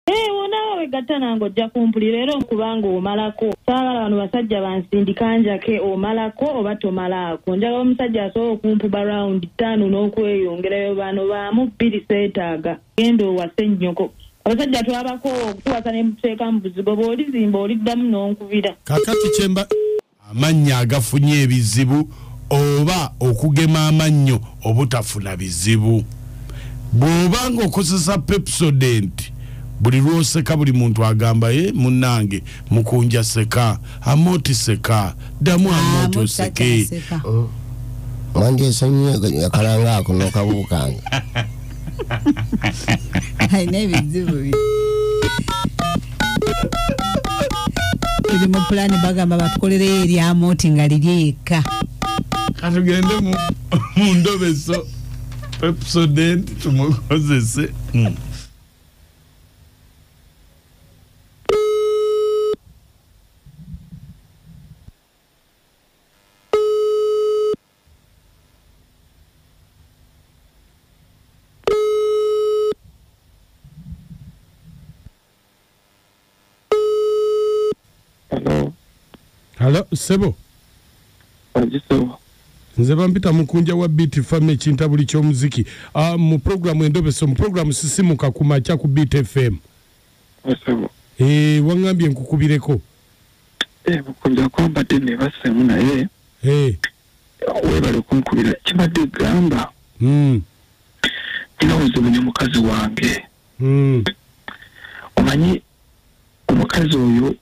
Ee wonawo wegatta nange ojja kumpulira era kubanga omalako saagala bano basajja bansindika njake omalako oba tomalaako njagala omusajja asobola okumpuba rawundi ttaano n'okweyongerayo bano baamu bbiri seetaaga genda owase nnyoko abasajja twabakoowa okutuwasa ne mututeeka mu buzigo bw'olizimba oliddamu n'onkubira kakati kyemba Amannya agafunye ebizibu oba okugema amannyo obutafuna bizibu. Bw'oba ng'okozesa Pepsodent, buli lw'oseka buli muntu agamba ye eh, munnange mukunja seka amoti seka ddamu amoti oseke. Oh. Manje nsonyiye akalanga ako nokabuukanga alina ebizibu bi tuli mu pulani bagamba batukolereyo eryamoti nga lirye yekka katugende mu ndobeso epsodent tumukozese hmm. halo sebo nze bampita mukunja wa beat fam ekintabuli kyomuziki uh, mu programu endobeso mu programu sisimuka ku makya ku beat fm e, eh, wangambye nkukubireko Eh, bukunja kwambadde nebassemu naye Eh, webale kunkubira kibadde gamba mm, nina obuzibu ne mukazi wange mm, omanyi omukazi oyo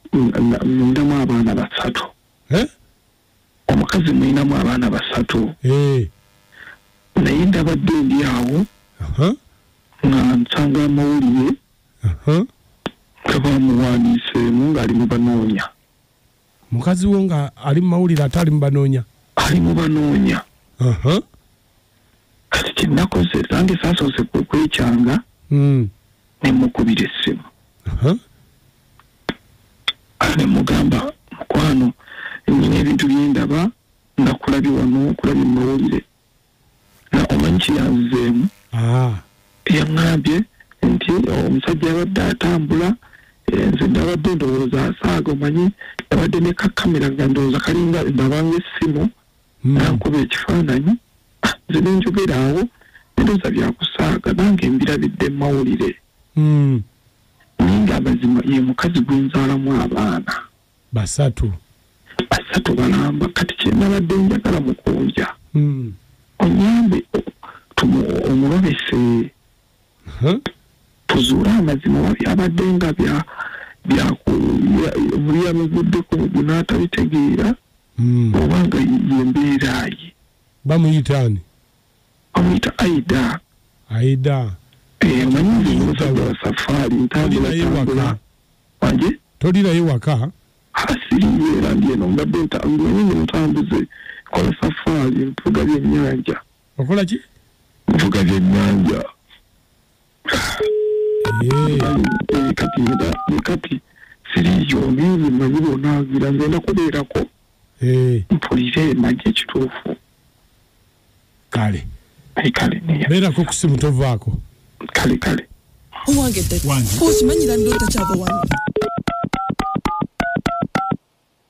ninamu abaana basatu eh, omukazi mulinamu abaana basatu eh. naye ndabadde ndi awo nga nsanga amawulire nga bamuwandiiseemu ng'ali mu banoonya mukazi wo nga ali mu mawulire ate ali mu banoonya ali mu banoonya kati kyenakoze nange sasoose kwekyanga hmm. nemukubira essimu nemugamba mukwano nyina ebintu byendaba nga kulabye wano kulabye mumawulire nga omanyi kyeyanzizeemu ah. yaŋambye nti oh, omusajja yabadde atambula eh, nze nabadde ndowooza asaaga omanyi nabadde nekakamera nga ndowooza kalinga ndabanga essimu nankuba ekifaananyi ah, nze nenjogera awo ndoza byakusaaga nange mbirabidde mumawulire hmm. naye nga amazima ye mukazi gwenzaalamu abaana basatu basatu balamba kati kyenabadde njagala mukunja hmm. onyambe omulobese Mhm. tuzuule amazima oba byabadde nga bya byakuyabaguddeko mugwe n'atabitegeera hmm. oba nga yembeera ye bamuyita ani bamuyita aida aida eh, omanyisafaari ntambulantambula wanje tolirayo waka asiriyeera ah, ndi eno mbadde ntambuze kola safaari mpuga byennyanja okola ki nvuga byennyanja Eh, kati nga ne kati siriiyo ngenze manyi bonaazira ngenda kubeerako eh, mpulire manyi ekituufu kale naye kale neya beerako ku simu tovaako kale kale owange dadi okimanyira ndoota kyava wano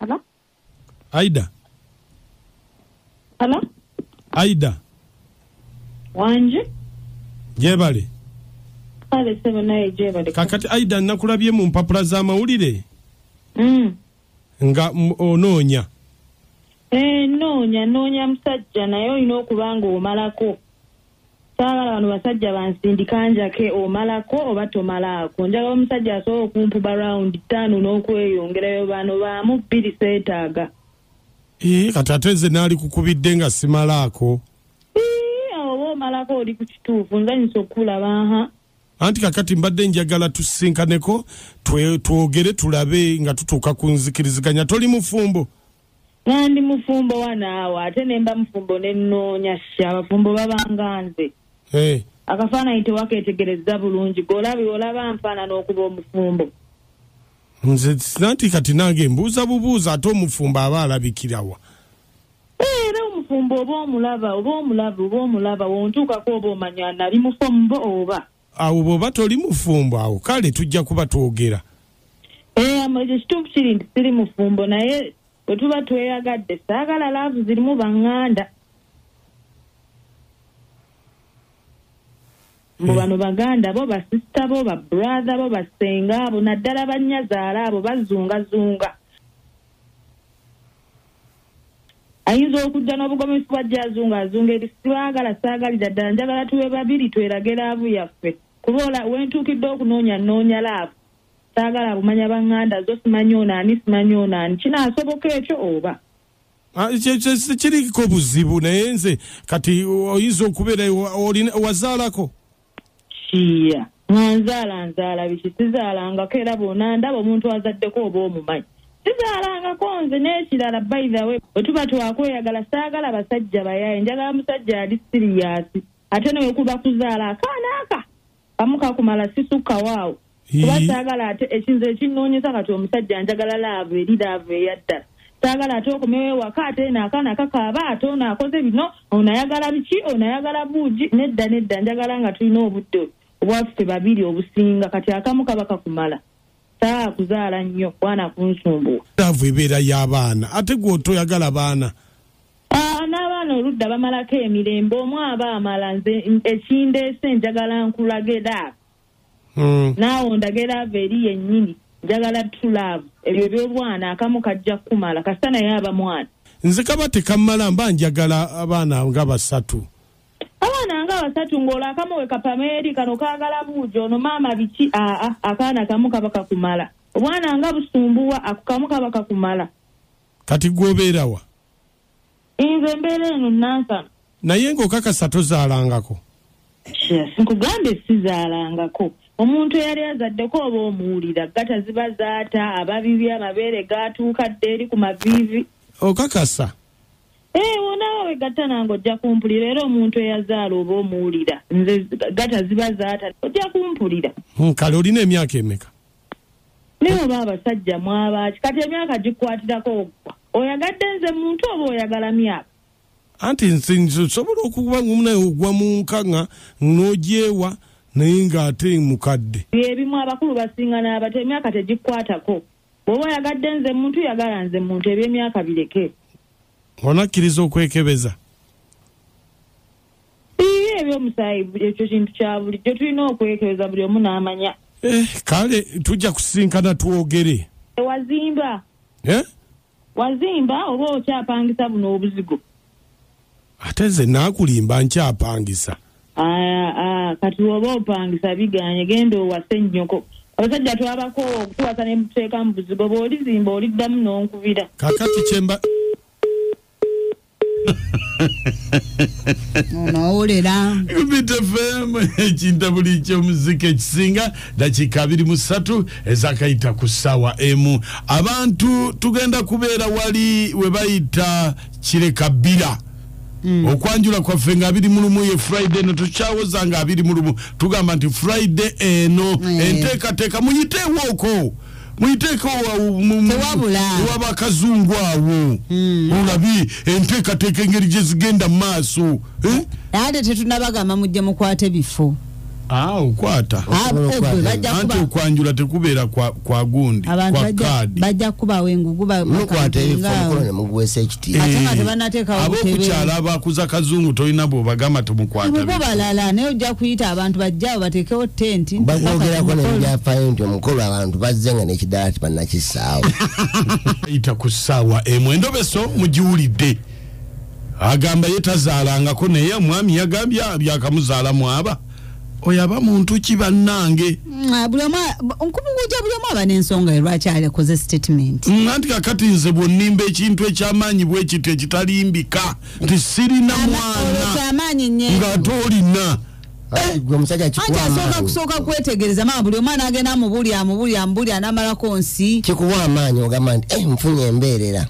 Hello? aida Hello? aida Wanje? gyebale Kale sebo naye gyebale. kakati aida nakulabye mu mpapula z'amawulire Mm. nga m- onoonya Eh, noonya noonya musajja naye olina okuba ng'omalako saagala bano basajja bansindika njake omalako oba tomalaako njagala omusajja asobola okumpuba rawundi ttaano n'okweyongerayo bano baamu bbiri seetaaga ee kati ate nze naali kukubidde nga simalaako oba omalako oli ku kituufu nzanyisa okukulaba ha anti kakati mbadde njagala tusinkaneko twogere tulabe nga tutuuka ku nzikiriziganya toli mufumbo nandi mufumbo wanaawo ate nemba mufumbo nenoonya sha abafumbo babanga nze hey. akafaananyi tewaketegereza bulungi golabi olaba nfaanana okuba omufumbo nze sinanti kati nange mbuuza bubuuza ate omufumbo aba alabikirawa eh, era omufumbo oba omulaba oba omulaba oba omulaba wontuukako oba omanya nali mufumbo oba awo bwoba toli mufumbo awo kale tujja kuba twogera eh, ekyo kituufu kiri nti siri mufumbo naye bwe tuba tweyagadde saagala laavu zirimu baŋŋanda mbu eh. bano baganda bo basisita bo babrathe bo basenga abo naddala bannyazaala abo bazungazunga ayinza okujja n'obugomesi bwa jazunga azunga eri sibaagala saagalira ddala njagala tuwe babiri twerage laavu yaffe kuba ola wentuukidde okunoonya nnoonya laavu saagala abumanya banganda zo simanyi ono ani simanyi ono ani kinaasoboka ekyo oba ah, kiriko buzibu naye nze kati oyinza okubeera wazaalako kiya nga nzaala nzaala biki sizaalangako era bona ndaba omuntu azaddeko oba omumanyi sizaalangako nze n'ekirala baithawe bwe tuba twakweyagala saagala basajja bayaye njagala musajja ali siriyasi ate newekuba kuzaala akaana aka kamukakumala sisukkawaawo kuba saagala ate ekinze ekinnoonyeza kati omusajja njagala laavu eri laavu eyaddala saagala ate okomewo ewaka ate eno akaana kakaaba ate ono akoze bino ono ayagala biki ono ayagala buugi nedda nedda njagala nga tulina obudde obwaffe babiri obusinga kati akamu kaba kakumala saa kuzaala nnyo kwana kunsumbuwa laavu ebeera y'abaana ate gwe otoyagala baana Ah, n'abaana oludda bamalako emirembe omu aba amala nze ekindeese njagala nkulaga edaaka hmm. naawe ondage laava eri yennyini njagala tulaavu ebyo ebyobwana akamu kajja kukumala kasita naye aba mwana nze kaba tekammala mba njagala abaana nga basatu abaana nga basatu ng'olwo akamu we kapameeri kano kaagala buujo ono maama biki aa akaana kamu kaba kakumala obwana nga busumbuwa akukamu kaba kakumala kati gwobeerawa nze mbeera eno nansana naye ngaokakasa tozaalangako nkugambye sizaalangako omuntu eyali azaddeko oba omuwulira gata ziba zaata ababibi amabeere gaatuuka dde eri ku maviivi okakasa ee wonawe wegatta nange ojja kumpulira era omuntu eyazaala oba omuwulira nze gata ziba zaata ojja kumpulira hmm, kale olina emyaka emeka naye oba abasajja mwabaaki kati emyaka gikwatirako ogwa oyagadde nze muntu oba oyagala myaka anti nze nsobola okuba ngaomunaye ogwa mu nkaŋa n'ogyewa naye ng'ate mukadde byebimu abakulu basinga n'abato emyaka tegikwatako bwoba oyagadde nze muntu yagala nze muntu ebyemyaka bireke onakkiriza okwekebeza Iye ebyomusaayi ekyo kintu kya bulijjo tulina okwekebeza buli omu n'amanya. Eh, kale tujja kusisinkana twogere. Wazimba. Eh? Wazimba oba okyapangisa buno obuzigo. Ate nze naakulimba nkyapangisa. Aya, aya, kati oba opangisa biganye genda owase nnyoko. Abasajja twabako okutuwasa ne muteeka mu buzigo bw'olizimba oliddamu n'onkubira. Kakati kyemba. onowulira bitefemu ekintabuli ky'omuzika ekisinga dakiika abiri mu ssatu ezakayita ku ssaawa emu abantu tugenda kubeera wali we bayita kireka bbira Mm. okwanjula kwaffe nga abiri mulumu ye friday no tukyawoza nga abiri mulumu tugamba nti friday eno eh. enteekateeka muyiteewooko muyiteekewabakazungu awo hmm. olabi enteekateeka engeri gye zigenda mu maaso eh? ate tetunabagamba mujje mukwate bifo ah, okwata ah, anti okwanjula tekubeera kwa gundi kwa kaadi bajja kubawo engugu bakwata ebifo omukono ne muguweesa ekitabo ate nga tebanateekawo abokukyalo abakuza kazungu tolina bwobagamba tumukwataabo balala naye ojja kuyita abantu bajjaabo bateekewo tenti bayogerako nebyafayo nti omukolo abantu bazze nga nekidala tibanakisaawo yita ku ssaawa emu endobeso mugiwulidde agamba ye tazaalangako naye omwami yagambye byakamuzaalamu aba oyo aba muntu ki bannange mm, buli omu nkumunguja buli omu aba n'ensonga ye lwaki alekoze statement mm, anti kakati nze bwonnimba ekintu ekyamaanyi bwe kityo ekitalimbika nti sirina mwanang'ate olina eh, asooka kusooka kwetegereza maa buli omwana agenda amubuli amubuli amubuli anamalako nsi kikuwa amaanyi ogamba nti eh, nfunye embeerera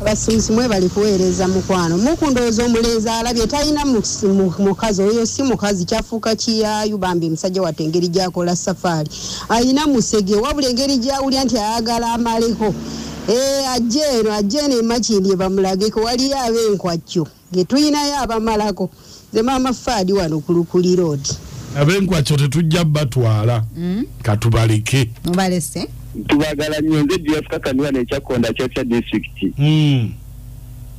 abasuubuzi mwe bali kuweereza mukwano mukundowooza omulenzi alabye talina mukazi oyo si mukazi kyafuuka kiyayu bambi musajja watte engeri gyakola safaari alina musege wabula engeri gyawulya nti ayagala amaleko eh, ajje eno ajje eno emakindye bamulageko waliyo ab'enkwajjo getuyinayo abamalako nze maama faadi wano kulukuli road abenkwaco tetujja batwala mm. katubaleke mubalese tubagala nyo nze juyafukakaniwa nekyakonda kyakya disitulikiti mm.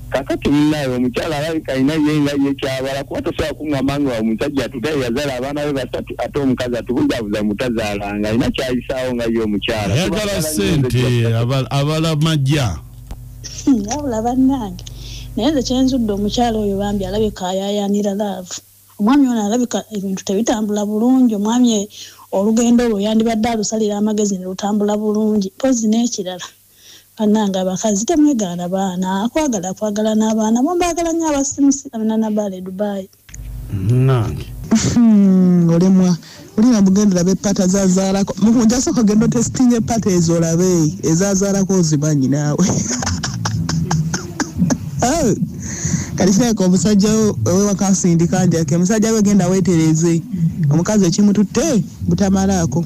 kakati munaye omukyala alabika alina ye nga ye kyabala kuba tosobola kungamba nga omusajja atutaye yazala abaana be basatu ate omukazi atubuzabuza mutazalanga alina kyayisaawo nga ye omukyala ayagala sente abala majja Hmm, wabula bannange naye nze kyenzudde omukyala oyo bambi alabika ayayaanira laavu omwami ono alabika ebintu tebitambula bulungi omwami e, olugendo olwo yandibadde alusalira amagezi ne lutambula bulungi mpozi n'ekirala bannange abakazi temwegaana baana akwagala akwagala n'abaana bo mbaagala nnyo abasimusi amina nabaala e dubaayi munange hmm, olemwa olina mugendera bepata zazaalako mukunja soka genda otesitinga epata ezo olabe ezazaalako ozimanyi naawe oh, kati kirabika omusajja wewakasindika njake musajja we genda wetereze omukazi ekimututte butamalaako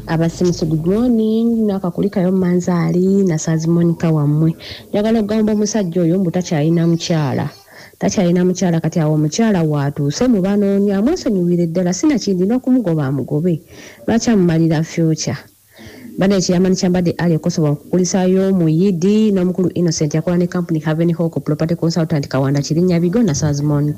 abasimusi good morning nakakulikayo manzaali nasazi monica wammwe njagala okugamba omusajja oyo mbu takyalina mukyala takyalina mukyala kati awo omukyala waatuuse mu banoonya amwesonyiwire ddala sinakindi n'okumugoba amugobe lwaki amumalira future bana ekiyamani kyambadde ali ekosobola okukulisayo omuyidi n'omukulu innocent yakola ne kampuni haven hawk property consultant kawanda kirinnya bigo nasazi monica